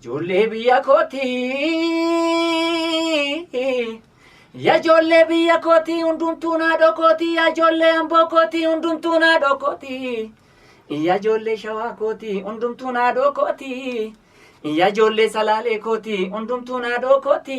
Ijoollee biyya kooti yaa ijoollee biyya kooti hundumtuu naa dhokooti yaa ijoollee amboo kooti hundumtuu naa dhokooti yaa ijoollee shawaa kooti hundumtuu naa dhokooti yaa ijoollee salaalee kooti hundumtuu naa dhokooti.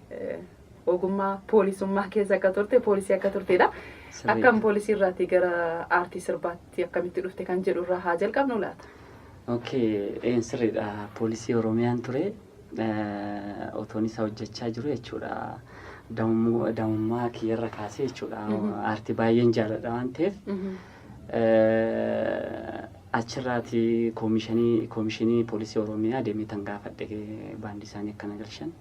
ogummaa poolisummaa keessa akka turte poolisii akka turtedha. Sirriidha. Akkam poolisii irraatii gara aartii sirbaatti akkamitti dhufte kan jedhu irraa haa jalqabnu laata? Okay, een sirriidha. Poolisii Oromiyaan ture. Eh, Otoon isa hojjechaa jiru jechuudha. Daa'immu- Daa'imummaa kiyyarra kaasee jechuudha. Mhm. Aartii baay'een jaaladha waan ta'eef. Mhm. Achirraati koomishanii koomishinii poolisii Oromiyaa deemee tan gaafadhe baandii isaanii akka na galchan.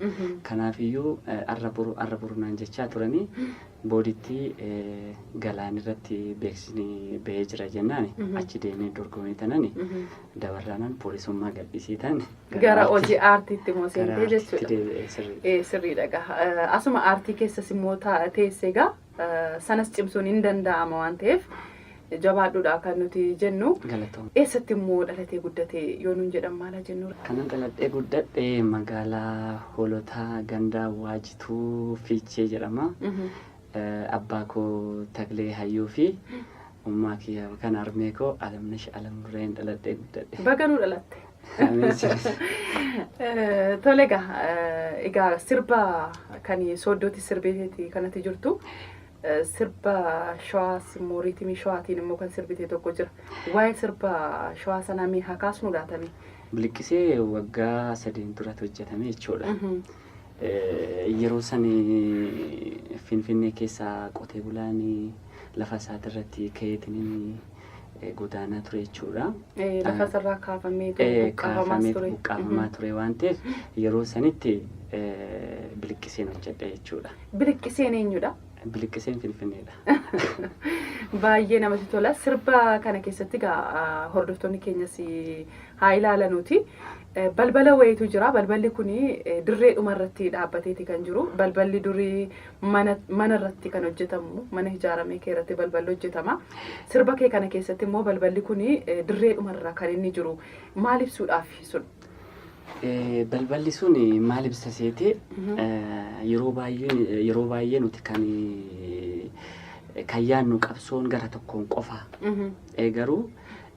Kanaafiyyuu arra boru arra boru naan jechaa turanii booditti galaan irratti beeksisni bahee jira jennaani achi deemee dorgomee tanani dabarraanan poolisummaa gadhiisee tan Gara hojii aartiitti immoo seentee jechuudha. deebi'ee sirrii. Eh, sirriidha gaa. Eh, Asuma aartii keessas immoo ta- teesse gaa sanas cimsuun hin danda'ama waan ta'eef jabaadhuudha kan nuti jennu. Galatoom. Eessatti immoo dhalatee guddate yoo nuun jedhan maala jennu. Kanan dhaladhee guddadhe magaalaa Hoolotaa gandaa Waajituu Fiichee jedhama. Eh, Abbaa koo Taklee Hayyuu fi ummaa kiyya yookaan harmee koo Alamnash Alamnureen dhaladhee guddadhe. Baga nuu dhalatte. Tole egaa egaa sirba kan sooddootti sirbeeti kanatti jirtu sirba shawaas immoo riitimii shawaatiin immoo kan sirbite tokko jira. Waa'ee sirba shawaa sanaa mee haa kaasnu laatame. Biliqqisee waggaa sadiin duratti hojjetame jechuudha. Yeroo san Finfinnee keessa qotee bulaan lafa isaati irratti ka'eetiin eh, godaanaa ture jechuudha. Eh, Lafa isarraa kaafamee ture, Eh, buqqaafamas kaafameetu ture. buqqaafamaa ture waan ta'eef yeroo sanitti eh, biliqqiseen hojjedhe jechuudha. Biliqqiseen eenyudha? Biliqqiseen Finfinneedha. Baay'ee namatti tola. Sirba kana keessatti egaa ah, hordoftoonni keenyas eh, haa ilaalanuuti. Eh, Balbala wayiitu jira. Balballi kun dirree dhumarratti dhaabbateeti kan jiru. Balballi durii Mana mana irratti kan hojjetamu mana hijaaramee kee irratti balballi hojjetama. Sirba kee kana keessatti immoo balballi kun dirreedhuma irra kan inni jiru maal ibsuudhaaf sun? Eh, Balballi sun maal ibsa seete eh, yeroo baay'een yeroo baay'ee nuti kan eh, kan yaadnu qabsoon gara tokkoon qofa. Mhm. Eh, Garuu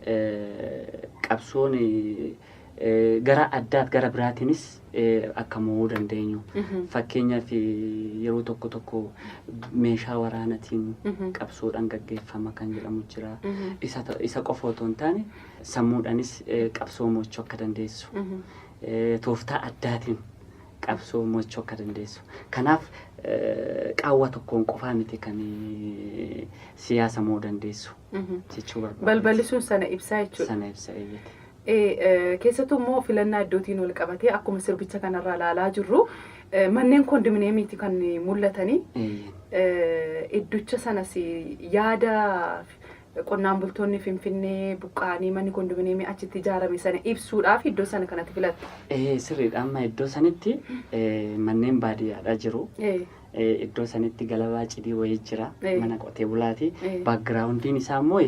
eh, qabsoon eh, eh, gara addaat gara biraatiinis akka mo'uu dandeenyu fakkeenyaaf yeroo tokko tokko meeshaa waraanatiin qabsoodhaan gaggeeffama kan jedhamu jira. Isa ta- Isa qofa otoo hin taane sammuudhaanis eh, qabsoo mo'achuu akka dandeessu eh, tooftaa addaatiin qabsoo mo'achuu akka dandeessu. Kanaaf eh, qaawwa tokkoon qofaa miti kan eh, siyaasa mo'uu dandeessu jechuu barbaada. Balballisuun sana ibsaa jechuudha. Sana ibsa eeyyate. Ee, keessattuu immoo filannaa iddootiin wal qabatee akkuma sirbicha kanarraa ilaalaa jirru eh, manneen kondominiyeemiiti kan mul'atanii Eh, idducha sanas yaada qonnaan bultoonni Finfinnee buqqa'anii manni kondominiyeemii achitti ijaarame sana ibsuudhaaf iddoo sana kanatti filatte. Ee, sirriidha amma iddoo sanitti ee, manneen baadiyyaadha jiru. Ee, Eh, iddoo sanitti galabaa cidii wayii jira Eh. mana qotee bulaati Eh. baakgiraawundiin isaa immoo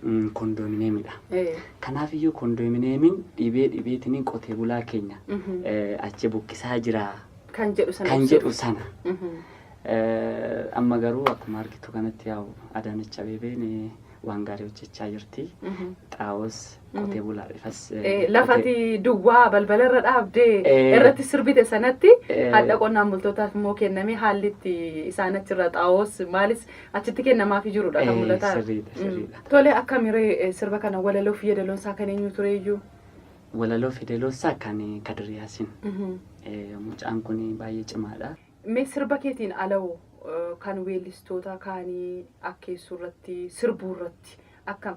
mm, kondomineemidha Eh. kanaaf iyyuu kondomineemiin dhibee dhibeetiniin qotee bulaa keenya Mhm. eh, achi buqqisaa jira Kan jedhu sana kan ibsuuf. jedhu sana Mhm. Eh, amma garuu akkuma argitu kanatti yaa'u Adaanech Abeebeen eh, waan gaarii hojjechaa jirti Mhm. xaa'oos Qotee bulaa ifas. Lafati duwwaa balbala irra dhaabdee Eh. irratti sirbite sanatti Eh. hadha qonnaan bultootaaf immoo kennamee haalli itti isaan achirra xaa'oos maalis achitti kennamaafii jirudha kan Eh, mul'ataa. sirriidha, Mm. sirriidha. Tole akkamiree eh, sirba kana walaloo fi yeedaloon isaa kan eenyu tureeyyuu? Walaloo fideloossaa kan Kadiriyaasin. Mhm. Eh, Mucaan kun baay'ee cimaadha. Mee sirba keetiin alawoo eh, kan weellistoota kaanii akkeessuu irratti sirbuu irratti akkam?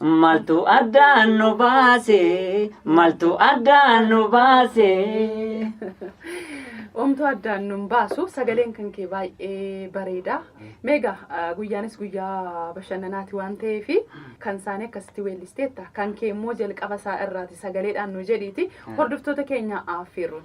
Maltu addaan nu baase, maltu addaan nu baase. Omtuu addaan nun baasu sagaleen kan kee baay'ee bareeda. Meegaa ah, guyyaanis guyyaa bashannanaati waan ta'eef kan isaanii akkasitti weellisteetta. Kan kee immoo jalqaba isaa irraati sagaleedhaan nu jedhiiti. Hordoftoota keenya affeerruun.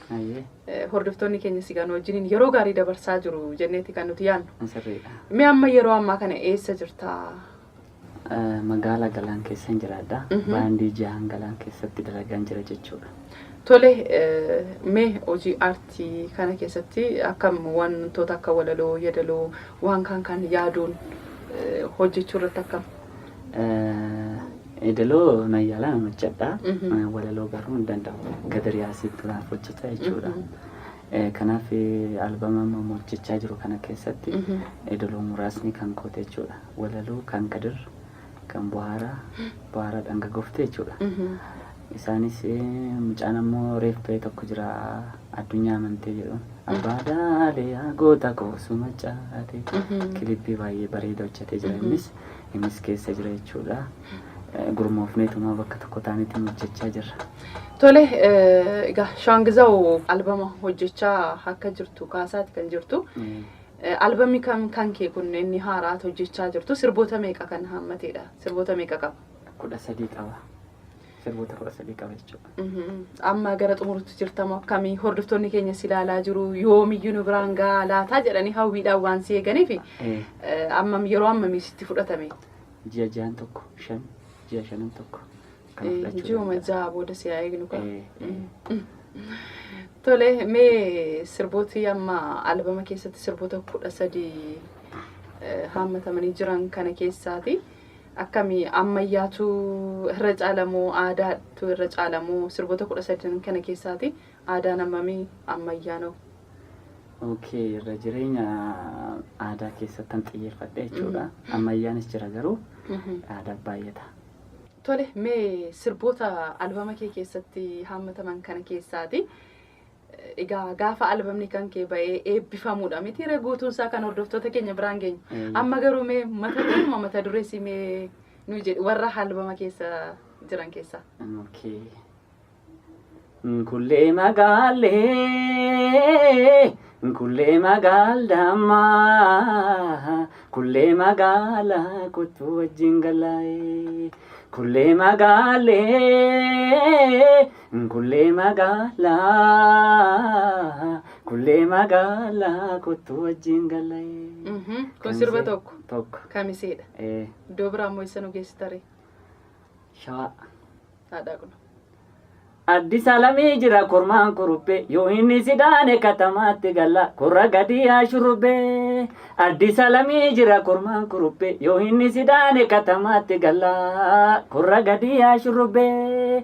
Hordoftoonni keenya sigaa nu wajjiniin yeroo gaarii dabarsaa jiru jenneeti kan nuti yaadnu. Sirriidha. Mee amma yeroo ammaa kana eessa jirta? Magaala Galaan keessan jiraadha. Baandii jahan Galaan keessatti dalagaan jira jechuudha. Tole mee hojii aartii kana keessatti akkam wantoota akka walaloo, yeedaloo waan kaan kaan yaaduun hojjechuu irratti akkam? Edeloo nan yaala nan hojjedha. Walaloo garuu hin danda'u. Gadariyaasitti naaf hojjeta jechuudha. Kanaaf albama amma hojjechaa jiru kana keessatti edaloo muraasni kan koota jechuudha. Walaloo kan gadir kan buhaaraa buhaaraa dhanga gofte jechuudha. Isaanis mucaan ammoo reef ba'e tokko jira addunyaa amantee jedhu. Abbaa daalee yaa goota koo suma caatee. Kilippii baay'ee bareeda hojjetee jira innis. Innis keessa jira jechuudha. Gurmoofneetuma bakka tokko taanetti hojjechaa jirra. Tole, egaa Shaangizaw albama hojjechaa akka jirtu kaasaati kan jirtu. Albamni kan kan kee kun inni haaraat hojjechaa jirtu sirboota meeqa kan hammateedha? Sirboota meeqa qaba? Kudha sadii qaba. sirboota kudha sadii qaba jechuudha. Mhm. Amma gara xumurutti jirtamu akkamii hordoftoonni keenya si ilaalaa jiru yoomiyyuu nu biraan gahaa laataa jedhanii hawwiidhaan waan si eeganiif Eh, eh, ammam yeroo ammamii sitti fudhatame Ji'a ja'an tokko shan ji'a shanan tokko kana Eh, fudhachuu ji'uma danda'a. ja'a booda si haa eegnu kaa. Eh, eh. Tole mee sirbooti amma albama keessatti sirboota kudha sadii eh, haammatamanii jiran kana keessaati. Akkami ammayyaatu irra caala moo aadaatu irra caala moo sirboota kudha sadan kana keessaati aadaan ammami ammayyaan hoo? Okay irra jireenya aadaa keessattan xiyyeeffadhe jechuudha. Ammayyaanis jira garuu aadaa baay'ata. Tole mee sirboota albama kee keessatti haammataman kana keessaati Egaa gaafa albamni kan kee ba'ee eebbifamuudha miti ree guutuun isaa kan hordoftoota keenya biraan geenyu. Eeyyee. Amma garuu mee mata duruma mata dureessi mee nu jedhi warra albama keessa jiran keessaa. Okay. Nkullee magaalee, nkullee magaal dammaa, kullee magaala kottu wajjin galaa'ee. Kullee magaalee, Kullee magaalaa kullee magaalaa kottu wajjin gallaye. Mhm. Kun sirba Kamisee. tokko. Tokko. Kamiseedha. Eh, Iddoo biraa immoo eessa nu geessitare? shawaa. Haadhaa kun. Addis alamii jira kormaan kurubbee yoo inni sidaane katamaatti galla korra gadii haa shurubbee. Addis alamii jira kormaan kurubbee yoo inni sidaane katamaatti galla korra gadii haa shurubbee.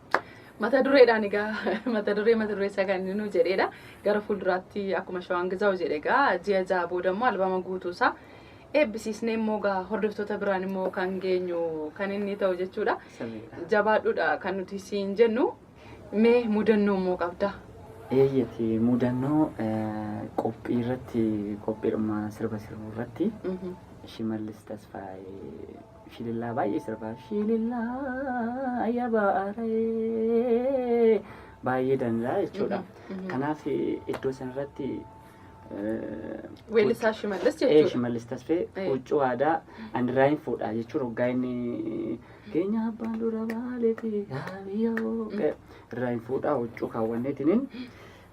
Mata dureedhaan egaa mata duree mata duree isaa kan inni nu jedheedha. Gara fuulduraatti akkuma shawaan gizaawu jedhe egaa ji'a ja'a booda immoo albama guutuu isaa eebbisiisnee immoo egaa hordoftoota biraan immoo kan geenyu kan inni ta'u jechuudha. Sirriidha. Jabaadhuudha kan nuti siin jennu mee mudannoo immoo qabda. Eeyyati mudannoo eh, qophii irratti qophiidhuma sirba sirbu irratti Mhm. Shimallis Tasfaayee Shilillaa baay'ee sirba. Shilillaa ya baaree baay'ee danda'a jechuudha. Kanaaf iddoo sanarratti Weellisaa Shimallis ee jechuudha. shimallis tasfee Ee. huccuu aadaa andiraayin fuudha jechuun hoggaa inni keenya abbaan dura baaleeti haabiyoo irraayin fuudha huccuu kaawwanneetiniin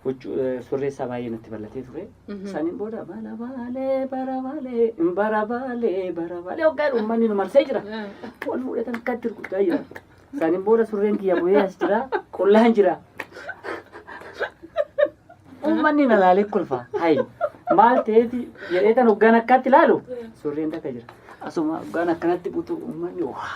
Huccu- eh, surree isaa baay'ee natti bal'atee ture. Mhm. Saniin booda bara baalee bara baalee bara baalee bara baalee hoggaa uummanni nu marsee jira. Wal fuudhatan akkatti guddaa jira. Saniin booda surreen kiyya bu'ee as jira qullaan jira. Uummanni na laalee kolfa. Hayi maal ta'eeti jedhee tan hoggaan akkatti ilaalu surreen takka jira. Asuma hoggaan akkanatti butu uummanni waa.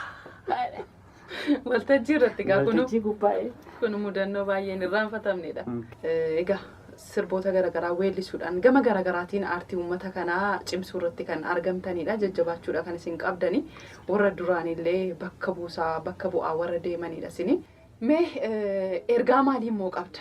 Waltajjii irratti egaa kunu Waltajjii gubbaa'ee. kun mudannoo baay'een irraanfatamnedha. Eh, Egaa sirboota garaagaraa weellisuudhaan gama garaagaraatiin aartii uummata kanaa cimsuu irratti kan argamtanidha. Jajjabaachuudha kan isin qabdani. Warra duraanillee bakka buusaa bakka bu'aa warra deemanidha isini. Mee eh, ergaa maalii immoo qabda?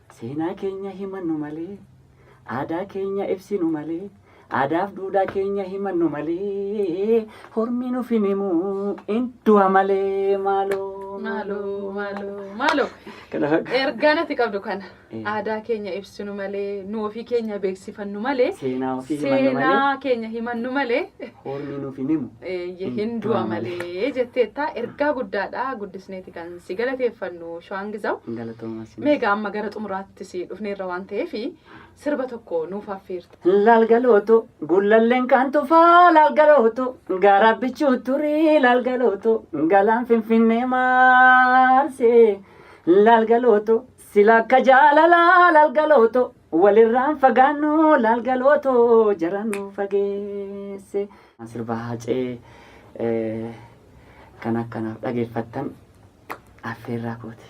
Seenaa keenya himannu malee, aadaa keenya ibsinu malee, aadaaf duudhaa keenya himannu malee, hormi nuf hin himu in du'a malee maaloo. Maaloo maaloo maaloo. Kana fakkaata. Ergaan ati qabdu kana Eh. aadaa keenya ibsinu malee, nu ofii keenya beeksifannu malee, Seenaa ofii himannu malee. seenaa keenya himannu malee. Ormi nuf hin himu. Eeyyee hin du'a malee jetteetta ergaa guddaadha guddisneeti kan si galateeffannu shawaan gizaw. Galatoomaa sinis. Meegaa amma gara xumuraatti si dhufneerra waan ta'eef sirba tokko nuuf affeerta. Laalgalooto gullalleen kan tufaa laalgalooto gaara bichuu turii laalgalooto galaan finfinnee maarsee laalgalooto sila akka jaalalaa laalgalooto Walirraan fagaannu laal galootoo jara nu fageesse. Sirba haacee eh, kan akkanaaf dhageeffattan affeerraa kooti.